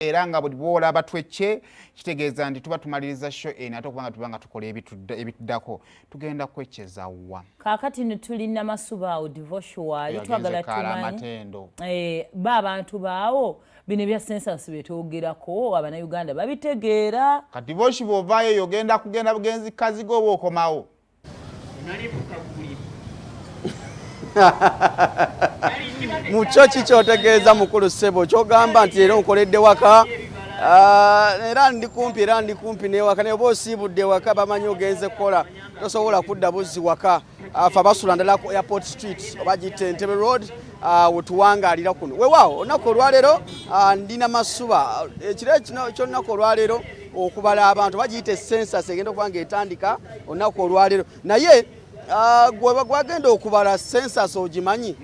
era nga buli bwolaba twecce kitegeeza nti tuba tumaliriza sho eno ate okubanga tuba nga tukola ebituddako tugenda kwecceza wa kakati netuli namasuba awo divosuali twagala tumanyiamatendo eh, ba abantu baawo bino ebya sensansi byetwogerako abanauganda babitegeera kati divosi bwovaayo yogenda kugenda bugenzi kaziga oba okomawo mukyo ki kyotegeeza mukulu ssebo kyogamba nti era onkoledde waka ah, era ndi kumpi era ndi kumpi newaka naye oba osiibudde ewaka bamanyi ogenze kukola tosobola kudda buzzi waka afa ah, basula ndala ku airport street oba gitta entebe road Ah, wetuwangaalira kuno wewaawo olunaku olwaleero ah, ndi na masuba ekiro eh, kyolunaku olwaleero okubala abantu bagiyita esensas egenda okuba nga etandika olunaku olwaleero naye ah, gwagenda okubala sensas ogimanyi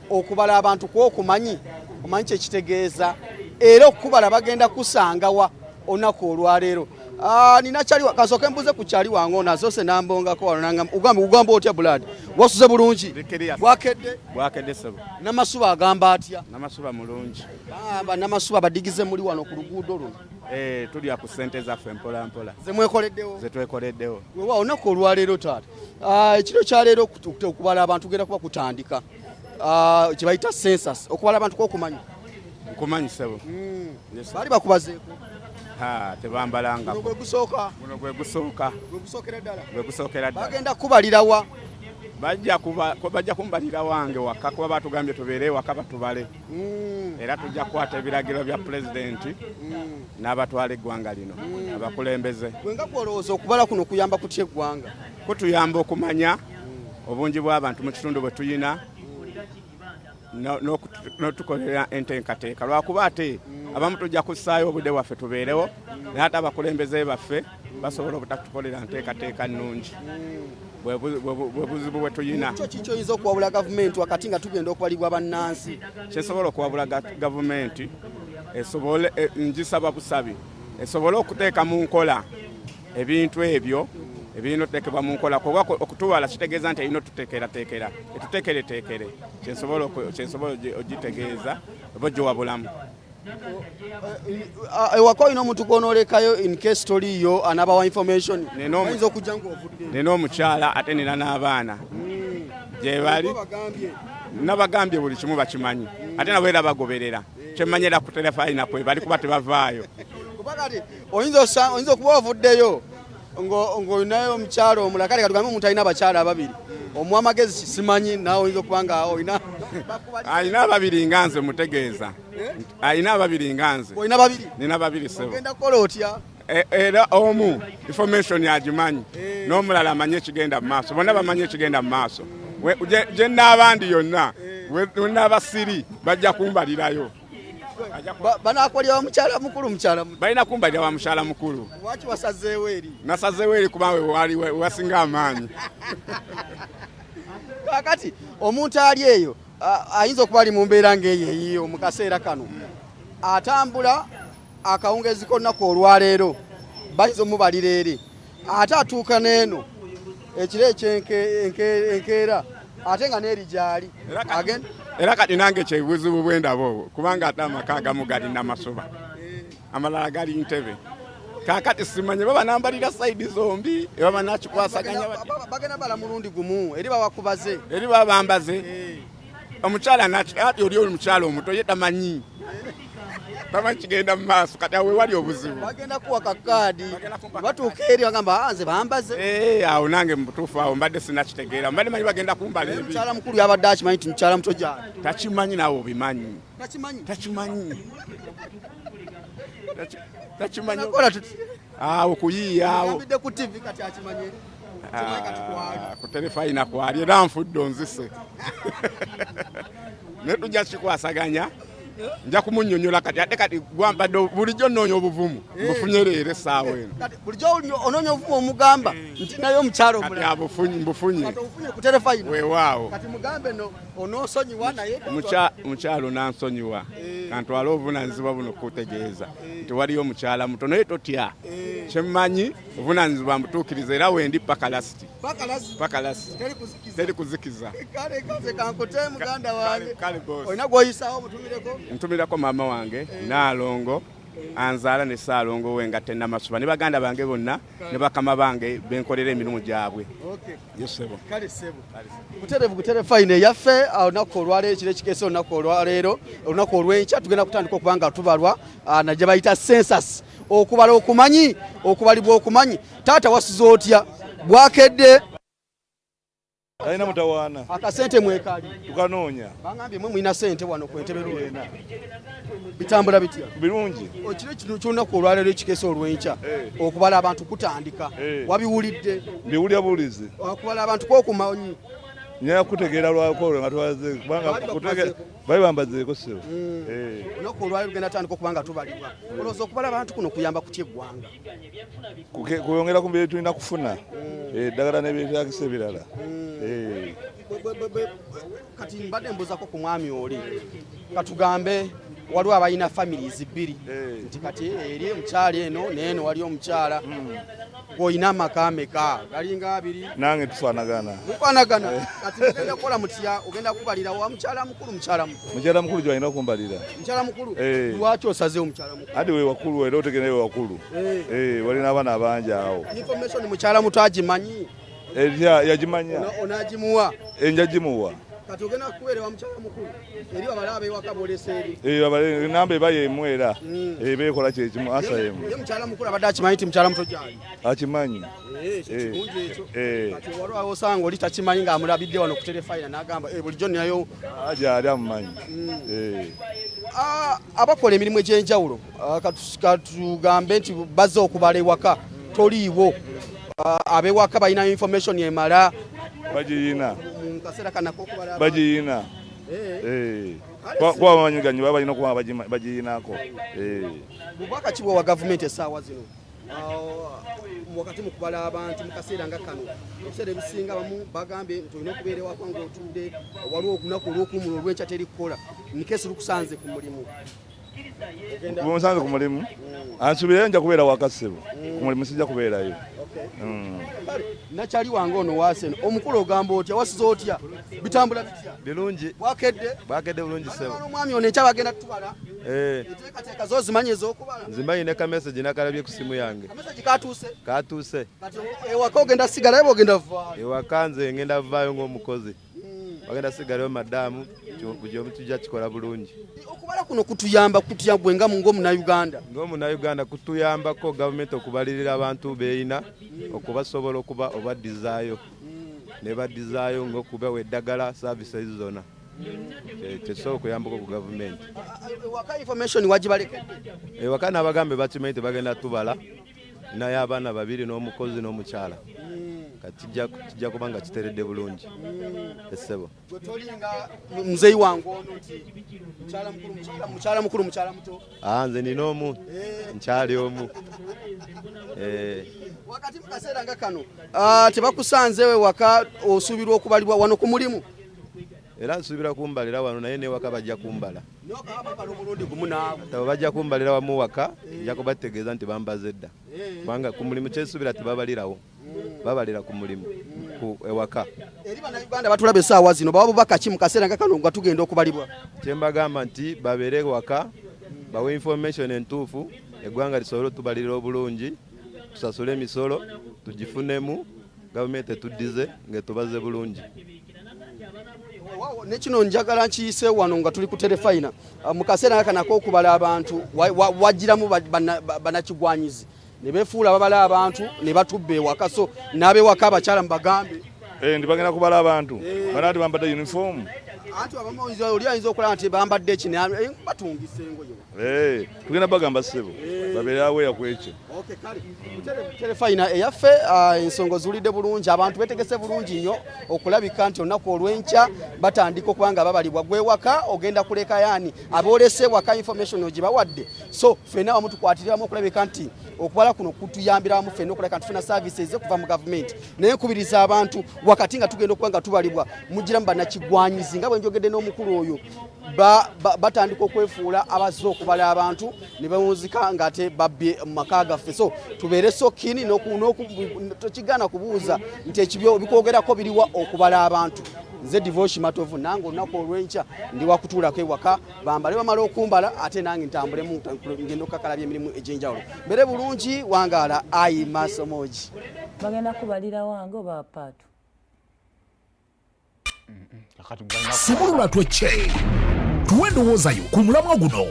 okubala abantu kwokumanyi omanyi kyekitegeeza era okukubala bagenda kusangawa olunaku olwaleero Ah, nina kyali kasoke mbuze ku kyali wango nazo se nambongako wano nanga ugambe ugambe otya bulad wasuze bulungi bwakedde bwakedde sebo namasuba agamba atya namasuba mulungi ah, ba namasuba badigize muli wano ku luguudo luno eh tuli ku sente zaffe mpola mpola zemwekoleddewo zetwekoleddewo wewa onako olwaleero taata ah, ekiro kyaleero okubala abantu genda kuba kutandika Ah, kye bayita census okubala abantu kokumanya nkumanyi sebo hmm. bali bakubazeeko tebambalanga gwe gusooka guno gwe gusooka gwe gusookera ddala bagenda kubalirawa bajja kumbalira wange waka kuba batugambye tubeere ewaka batubale hmm. era tujja kukwata ebiragiro bya pulezidenti hmm. n'abatwala eggwanga lino abakulembeze wenga kwolowooza okubala kuno kuyamba kutya eggwanga kutuyamba okumanya obungi bw'abantu mu kitundu bwe tuyina n'otukolera enteekateeka lwakuba ate abamu tujja kussaayo obudde bwaffe tubeerewo naye ate abakulembeze baffe basobola obutatukolera nteekateeka nnungi bwebuzibu bwetuyina kyoyinza okuwabula gavumenti wakati nga tugenda okubalibwa bannansi kyesobola okuwabula gavumenti esobole e, njisaba busabi esobole okuteeka mu nkola ebintu ebyo ebirina otutekebwa mu nkola kuba okutubala kitegeeza nti erina otutekerateekera etutekereteekere kyensobola ogitegeeza oba ogiwa bulamu ewaka olina omuntu gwonoolekayo incase toliiyo anabawa information ayinza okujja ngaovudde nina omukyala ate nina n'abaana hmm. gyebali nabagambye buli kimu bakimanyi ate nabo era bagoberera kyemmanyira ku terefayina kwebali kuba tebavaayo oyinza okuba ovuddeyo ng'olinayo omukyalo omulala kale katugambe omuntu alina abakyalo ababiri omuwa amagezi simanyi naawe oyinza okuba nga olina alina ababiri nga nze mutegeeza eh? alina ababiri nga nze olina babiri nina babiri sebo ogenda kukola otya E, era omu information agimanyi eh. n'omulala amanyi ekigenda mu maaso bonna bamanyi ekigenda mu maaso gye nnaabandi yonna eh. wenaaba siri bajja kumbalirayo banakolya wamukyala mukulu mukyala balina kumbalira wa mukyala mukulu waki wasazeewo eri nasazeewo eri kuba wewali wasinga amaanyi kakati omuntu ali eyo ayinza okuba ali mu mbeera ngaeyo eyiyo mu kaseera kano atambula akawungeezi k'olunaku olwaleero bayinza omubalira eri ate atuuka n'eno ekiro ekyenkeera ate nga n'eri gyali era kati nange kyebuzibu bwendaba obwo kubanga ate amaka agamu gali namasuba amalala gali ntebe kakati simanye baba nambalira saidi zombi ebaba nakikwasaganya bagenda bala mulundi gumu eri babakubaze eri babambaze eh. omukyala nakati oli oli mukyala omuto ye tamanyi tamanyi kigenda mu maaso kati awe wali obuzibu bagenda kuwa kakaadi batuuka eri bagamba ah, nze bambaze eh, awo nange mubutuufu awo mbadde sinakitegeera mbadde manyi bagenda kumbala ebi mukyala mukulu yabadde akimanyi nti mukyala muto gyali takimanyi nawe obimanyi takimanyi takimanyi takimanyi awo kuyiiyaawo yambidde ku tv kati akimanye Kimanyi kati kwali. Ah, ku terefayina kwali era nfudde onzise naye tujja kikwasaganya nja kumunyonyola kati ate kati gwambadde bulijjo nnoonya obuvumu Eh. mbufunye leero essaawa eno Kati bulijjo oli- onoonya obuvumu omugamba nti naye omukyalo kati omulala abufunye mbufunye kati ofunye ku terefayina weewaawo kati mugambe no onoosonyiwa naye Mukya- mukyalo nansonyiwa kantwale obuvunanyizibwa buno kukutegeeza nti waliyo omukyala muto naye totya eh. kyemmanyi obunanyizibwa mbutuukiriza era wendi paka lasiti paka lasiti teri kuzikiza ntumirako maama wange eh. naalongo anzaala ne saalongo we nga tenamasuba ne baganda bange bonna ne bakama bange benkolera emirimu gyabwe buterevu butere fayina eyaffe ah, olunaku olwaleero kiro ekikeesa olunaku olwaleero olunaku olwenkya tugenda kutandika okuba nga tubalwa ah, naje bayita sensas okubala okumanyi okubalibwa okumanyi taata wasuza otya bwakedde Alina mutawaana. Akasente mwekali. Tukanoonya. Bangambye mwe mulina sente wano ku Entebbe Luweena. Bitambula bitya? Birungi. Okiro kino ky'olunaku olwaleero ekikeesa olw'enkya eh. okubala abantu kutandika. Eh. Wabiwulidde? Mbiwulira buwulizi. Okubala abantu kwokumanyi. Nyaya kutegeera lwakolo nga twaze kubanga kutegeera bali bambazeeko ssebo. Mm. Eh. Olunaku olwaleero lugenda tandika okuba nga tubalibwa. Olowooza okubala abantu kuno kuyamba kutya eggwanga? kwongera ku bye tulina kufuna mm. eh, eddagala nebyetagisa ebirala mm. eh. kati mbadde mbuzako ku mwami oli katugambe waliwo abalina families bbiri eh. nti kati eri omukyala eno neeno wali omukyala hmm. olina amaka meka galinga abiri nange tufanagana mufanagana eh. kati ogenda kukola mutya ogenda kubalira wa mukyala mukulu mukyala mukulu mukyala mukulu gyalina okumbalira mukyala mukulu eh. lwaki osaze omukyala Adi we wakulu era otegere we wakulu. Eh, eh wali nabana abanja awo. Information mukyala mutu agimanyi. Eh ya yagimanya. Onagimuwa. Eh njagimuwa. Kati ogena kuwere wa mukyala mukulu. Eri babala abe wakabole seri. Eh babale namba ebaye emwera. Mm. Eh bekola kye kimu asa yemu. Ye mukyala mukulu abadde akimanyi ti mukyala mutu jali. Akimanyi. Eh, eh. kati waliwo awosanga oli takimanyi ng'amulabidde wano ku terefayina n'agamba eh, bulijjo nayo ah, gyali amumanyi hmm. ah, abakola emirimu egy'enjawulo ah, katugambe nti bazze okubala ewaka toliiwo abewaka balina information emala bagiyina bagiyina kuba bamanyi ganyi baba balina okuba bagiyinako bubaka ki bwewa gavumenti essaawa zino wakati mu kubala abantu mu kaseera nga kano ebiseera ebisinga bamu bagambye nti olina okubeera ewaka ngaotudde waliwo olunaku olwokuumula olwenkya teri kukola nikesi lukusanze ku mulimu bunsanze ku mulimu mm. ansubireyo nja kubeera wakasibu mm. ku mulimu sijja kubeerayo mm. nakyali wange ono wasen omukulu ogamba otya wasiza otya bitambula bitya birungi bwakedde bwakedde bulungi sebo omwami ono ekyabagenda tutubala eh. nzimanyi ne kamesegi nakalabye ku simu yange katuuse ewaka nze ngenda vaayo ng'omukozi bagenda sigalayo madaamu buli omu tujja kikola bulungi okubala kuno kutuyamba kutya gwe nga ngaomunauganda ngaomunauganda kutuyambako gavumenti okubalirira abantu beeyina okubasobola okuba obadizaayo nebadizaayo ngaokubawa eddagala services zona tesobola okuyambako ku gavumenti ewaka eh, nabagambe bakimanyi tebagenda tubala naye abaana babiri n'omukozi n'omukyala kijja kuba nga kiteredde bulungi essebo muzeyi wange ono mukyala mukulu mukyala muto ah, nze nina omu eh. nkyali omu eh. wakati mu kaseera nga kano ah, tebakusanzeewo ewaka osuubirwa okubalibwa wano ku mulimu era nsuubira kumbalira wano naye newaka bajja kumbala tabo bajja kumbalira wamu waka nja kubategeeza nti bambaze dda kubanga ku mulimu kyensuubira tebabalirawo babalira ku mulimu ku ewaka eri banauganda batulaba esaawa zino baba bubaka ki mu kaseera nga kano nga tugenda okubalibwa kyembagamba nti babeere ewaka bawe information entuufu eggwanga lisobole otubalira obulungi tusasule emisolo tugifunemu gavumenti etuddize ng'etubaze bulungi ne kino njagala nkiyise wano nga tuli ku terefayina ah, mu kaseera nga kanako okubala abantu wajjiramu banakigwanyizi ne befuula babala abantu ne batubba ewaka so n'abewaka abakyala mu bagambe eh, ndi bagenda kubala abantu eh. bana nti bambadde uniform anti abamu oli ayinza okulaba nti bambadde ekinaye eh, batungisa engoye Hey, eh, tugenda bagamba ssebo eh. babeere aweya ku ekyo telefayina eyaffe ah, ensonga oziwulidde bulungi abantu betegese bulungi nnyo okulabika nti olunaku olw'enkya batandika okuba nga babalibwa gwewaka ogenda kuleka yaani aboolese ewaka information ogibawadde so ffena wamu tukwatiriramu okulabika nti okubala kuno kutuyambiramu ffena okulabika nti tufuna service eze kuva mu gavumenti naye nkubiriza abantu wakati nga tugenda okuba nga tubalibwa mugiramu banakigwanyizi nga bwe njogedde n'omukulu oyo batandika okwefuula abazze okubala abantu ne bawunzika ng'ate babbye mu maka gaffe so tubeere sokini tokigaana kubuuza nti ekibyo bikwogerako biriwa okubala abantu nze divoshi matovu nange olunaku olwenkya ndi wakutuulako ewaka bambale bamala okumbala ate nange ntambulemu ngenda okukakalabya emirimu egyenjawulo mbere bulungi wangaala ayi maaso moogi bagenda kubalira wange oba paatu sumulula twecce tuwe endowooza yo ku mulamwa guno